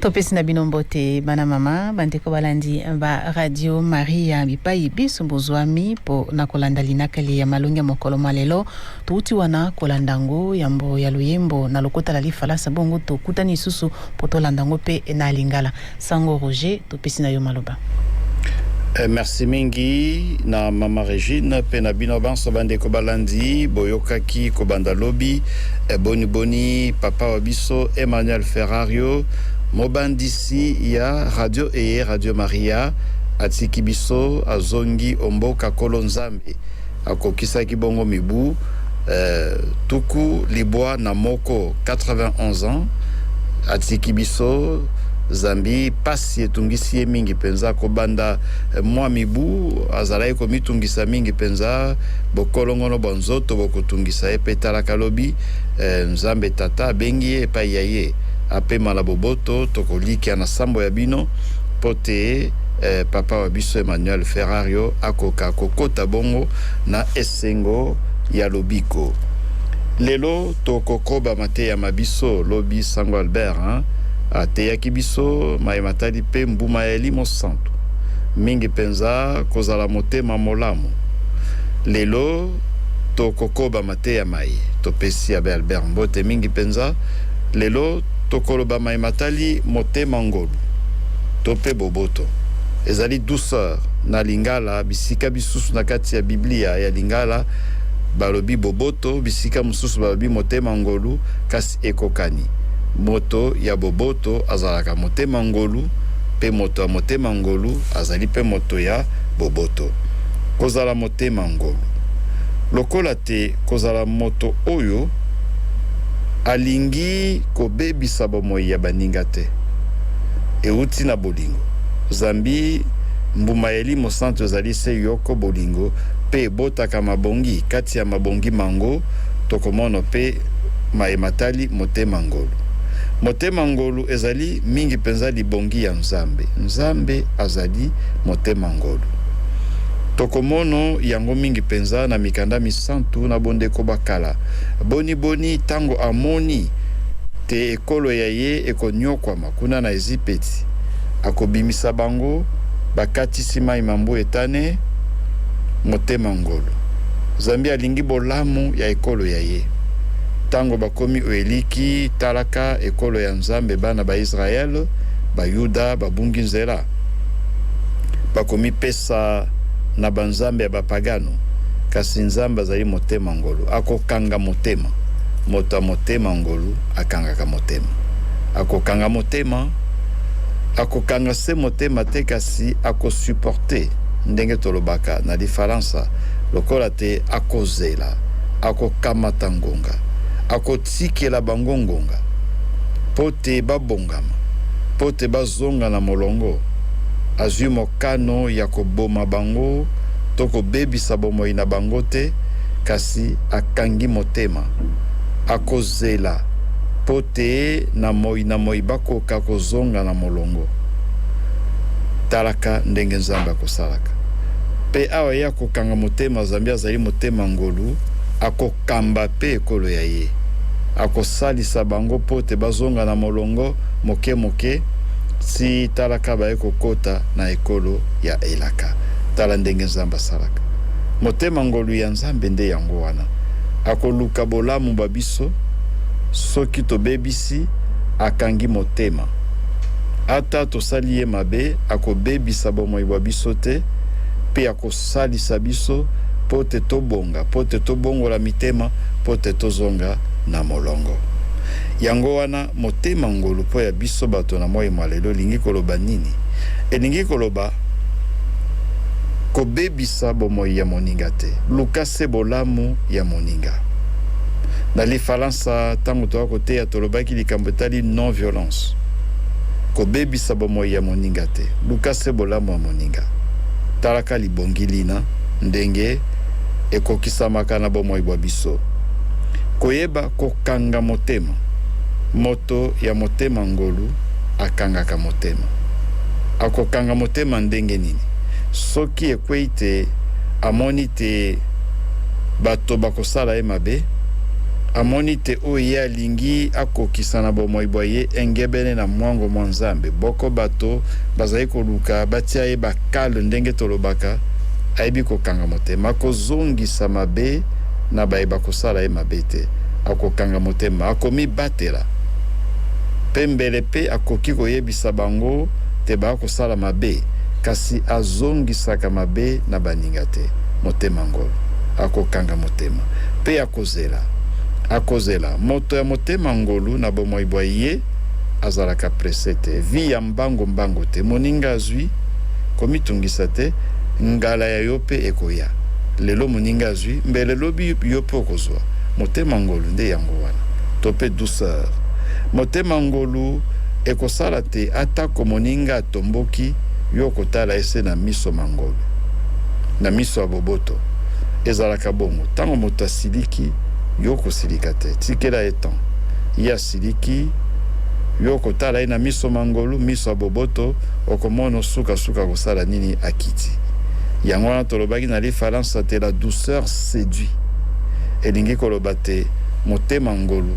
topesi na bino mbote bana mama bandeko balandi ba radio maria bipai biso bozwami mpo na kolanda linakeli ya malongi ya mokolo mwa lelo touti wana kolanda yango yambo ya loyembo na lokota la lifalasa bongo tokutani lisusu mpo tolanda yango mpe na lingala sango roger Napesi na yo maloba. Eh, merci mingi na mama Regine mpe na bino banso bandeko balandi boyokaki kobanda lobi eh, boni boni papa wa biso Emmanuel Ferrario mobandisi ya radio eye Radio Maria atiki biso azongi omboka kolo Nzambe Akokisaki bongo mibu tuku libwa na moko, 91 ans, atiki biso, zambi pasi etungisi ye mingi penza. Kobanda mwa mibu, azalaki komitungisa mingi penza, bokolongono bwa nzoto bokotungisa ye. Pe talaka lobi, Nzambe Tata abengi ye epayi ya ye. Apema na boboto. Tokolikia na sambo ya bino po te Papa wa biso Emmanuel Ferrario akoka kokota bongo na esengo ya lobiko. Lelo tokokoba mateya ma biso, lobi Sango Albert hein, ateyaki biso maye matali mpe mbuma ya elimo santu, mingi mpenza kozala motema molamu. Lelo tokokoba te ya maye. Topesi Abbe Albert mbote mingi mpenza. Lelo, tokoloba maye matali motema ngolu to mpe boboto. Ezali douceur na Lingala. Bisika bisusu na kati ya Biblia ya Lingala balobi boboto, bisika mosusu balobi motema ngolu, kasi ekokani. Moto ya boboto azalaka motema ngolu, mpe moto ya motema ngolu azali mpe moto ya boboto. Kozala moto te ma ngolu lokola te kozala moto oyo alingi kobebisa bomoi ya baninga te euti na bolingo zambi mbuma ya elimo santu ezali se yoko bolingo mpe ebotaka mabongi kati ya mabongi mango tokomono mpe maye matali motema ngolu motema ngolu ezali mingi mpenza libongi ya nzambe nzambe azali motema ngolu Tokomono yango mingi mpenza na mikanda misantu na bondeko ba kala. Boni boni tango amoni te ekolo ya ye ekonyokwama kuna na Ezipeti, akobimisa bango bakatisi mayi ma mbu etane motema ngolu. Zambi alingi bolamu ya ekolo ya ye. Tango bakomi oeliki, talaka, ekolo ya Nzambe, bana ba Israel, Bayuda, babungi nzela. Bakomipesa. Sa na ba nzambe ya ba pagano kasi nzambe azali motema ngolu akokanga motema moto ya motema ngolu akangaka motema akokanga motema akokanga se motema te kasi ako supporte ndenge tolobaka na lifalansa lokola te akozela akokamata ngonga ako Tikela bango ngonga mpo te babongama, mpo te bazonga na molongo. Azwi mokano ya koboma bango to kobebisa bomoi na bango te, kasi akangi motema. Akozela mpo te na moi na moi bakoka kozonga na molongo. Talaka ndenge Nzambe akosalaka. Mpe awa ye akokanga motema, zambi azali motema ngolu, akoka. Kamba pe ekolo ya ye. Akosalisa bango po te bazonga na molongo moke-moke, tii tala ka baye kokota na ekolo ya elaka. Tala ndenge Nzambe asalaka. Motema ngolu ya Nzambe nde yango wana. Akoluka bolamu bwa biso, soki tobebisi, akangi motema. Ata tosali ye mabe, akobebisa bomoi bwa biso te, pe akosala. Salisa biso mpo te tobonga, mpo te tobongola mitema, mpo te tozonga na molongo. Yango wana, motema ngolu mpo ya biso bato na moi mwa lelo elingi koloba nini? Elingi koloba, Kobebisa bomoi ya moninga te. Luka se bolamu ya moninga. Na lifalansa, ntango toya koteya, tolobaki likambo etali non-violence. Kobebisa bomoi ya moninga te. Luka se bolamu ya moninga. Talaka libongi lina ndenge ekokisamaka na bomoi bwa biso. Koyeba kokanga motema. Moto ya motema ngolu akangaka motema. Akokanga motema ndenge nini? Soki ekwei te, amoni te bato bakosala ye mabe, amoni te oyo ye alingi, alingi akokisa na bomoi bwa ye engebene na mwango mwa Nzambe. Boko bato bazali koluka batia ye bakal ndenge tolobaka, ayebi kokangamo te. Makozongisa mabe na baye bakosala ye mabe te. Akokanga motema, akomibatela, mpe mbele mpe akoki koyebisa bango te baakosala mabe, kasi azongisaka mabe na baninga te. Motema ngolo, akokanga motema, mpe akozongisa mabe na baye bakosala ye mabe te. Zela. Akozela. Moto ya motema ngolu na bomoi bwa ye azalaka presse te. Vie ya mbango mbango te. Moninga azwi, komitungisa te, ngala ya yo pe ekoya. Lelo moninga azwi, mbele lobi yo pe okozwa. Motema ngolu nde yango wana. To pe douceur. Motema ngolu ekosala te ata ko moninga atomboki, yo okotala ye se na miso ma ngolu. Na miso ya boboto. ezalaka bongo tango moto asiliki yo kosilika te tikela ye temps ye asiliki yo kotala ye na miso mangolu miso ya boboto okomono suka suka kosala nini akiti yango wana tolobaki na lifalansa te la douceur seduit elingi koloba te motema ngolu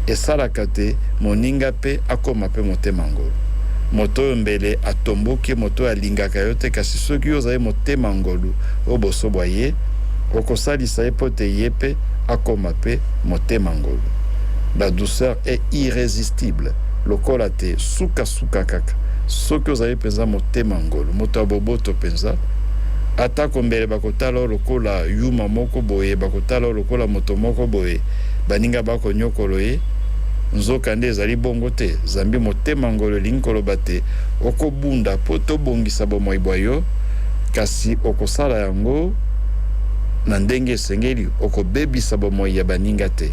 esalaka te moninga pe akoma pe motema ngolu moto oyo mbele atomboki moto oyo alingaka yo te kasi soki yo ozali motema ngolu o boso bwa ye, okosalisa ye mpo te ye mpe akoma mpe motema ngolu. La douceur est irresistible lokola te suka suka kaka soki ozali mpenza motema ngolu, moto ya boboto mpenza. Atako mbele bakotala yo lokola yuma moko boye, bakotala yo lokola moto moko boye, baninga bako nyokolo ye, nzoka nde ezali bongo te, zambi motema ngolu elingi koloba te okobunda mpo te obongisa bomoi bwa yo, Kasi okosala yango na ndenge esengeli. Okobebisa bomoi ya baninga te.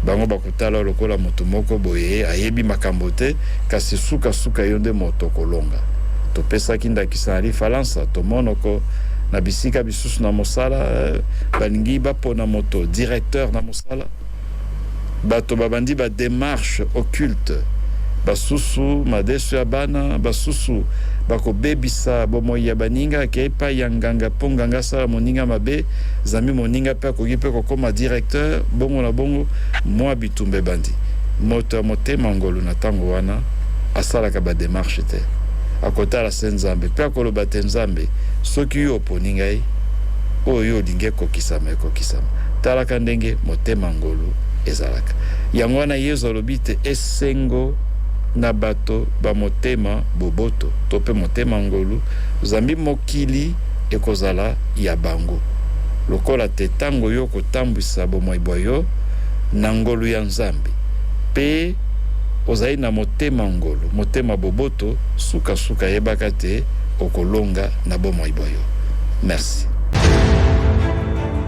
Bango bakotala yo lokola moto moko boye ayebi makambo te, kasi sukasuka yo nde moto okolonga. Topesaki ndakisa na Lifalansa. Tomonoko na bisika bisusu na mosala, balingi bapona moto directeur na mosala. bato babandi ba demarches occultes, basusu madesu ya bana, basusu bakobebisa bomoi ya baninga, akei epai ya nganga mpo nganga asala moninga mabe, zambi moninga mpe akoki mpe kokoma directeur, bongo na bongo. Mua bitumba ebandi. Moto ya motema ngolu na tango wana asalaka ba demarches te, akotala se Nzambe mpe akoloba te, Nzambe, soki yo oponi ngai, oyo yo olingi ekokisama, ekokisama. Talaka ndenge motema ngolu ezalaka. Yango wana Yezu alobi te, Esengo na bato ba motema boboto, to pe motema ngolu, zambi mokili ekozala ya bango. Lokola te tango yo okotambwisa bomoi bwa yo na ngolu ya Nzambe, pe ozali na motema ngolu, motema boboto, suka-suka yebaka te okolonga na bomoi bwa yo. Mersi.